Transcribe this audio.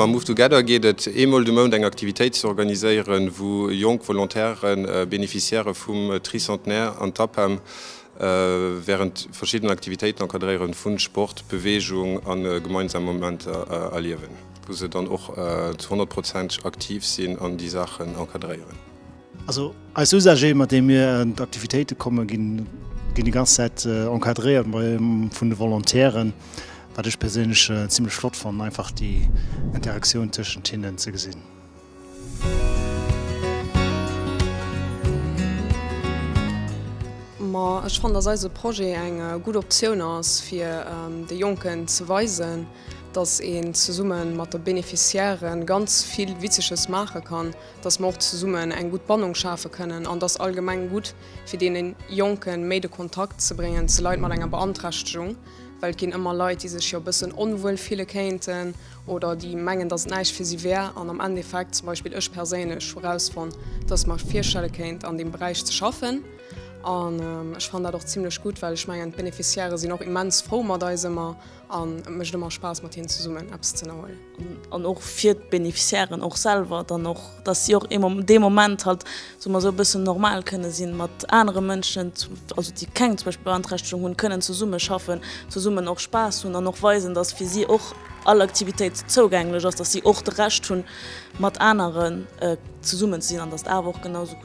Mam Move Together geet et eemol de Mount eng Aktivitéit ze organiséieren, wou jonk Volontairen Beneficiairë vum Tricentenaire an d'APEM wärend verschiddenen Aktivitéiten encadréieren, vu Sport, Beweegung a gemeinsam Momenter erliewen, wou se dann och zu 100 Prozent aktiv sinn an déi Saachen encadréieren. Also eis Usagé, mat deem mir an d'Aktivitéite kommen, ginn déi ganz Zäit encadréiert vun de Volontairen, wat ech perséinlech zimlech flott fannen, einfach déi Interaktioun tëschent hinnen ze gesinn. Ma ech fannen, dass eise Projet eng gutt Optioun ass, fir de Jonken ze weisen, dass een zesumme mat de Beneficiairen ganz vill Witzeges maache kann. dass mer och zesummen eng gutt Bannung schafe kënnen an dass allgemeng gutt fir deene Jonke méi de Kontakt ze bréngen zu Leit mat enger Beanträchtegung, well et ginn ëmmer Leit, déi sech jo e bëssen onwuel fille kéinten oder déi mengen, dass et näischt fir si wär an am Endeffekt, zum Beispill ech perséinlech hu rausfonnt, dass ech mer virstelle kéint an deem Beräich ze schaffen an ech fannen dat och zimlech gutt, well ech mengen d'Beneficiairë sinn och immens frou mat eis ëmmer. An et mécht ëmmer Spaass mat hinnen zesummen eppes ze ënnerhuelen. An och fir d'Beneficiairen och selwer dann och, dass si och ee dee Moment halt, soe mer esou, e bëssen normal kënne sinn, mat anere Mënschen, also déi keng zum Beispill Beanträchtegung hunn, kënnen zesumme schaffen, zesummen och Spaass hunn an och weisen, dass fir si och all Aktivitéit zougänglech ass, dass si och de Recht hunn, mat aneren zesummen ze sinn an dass awer och genau esou.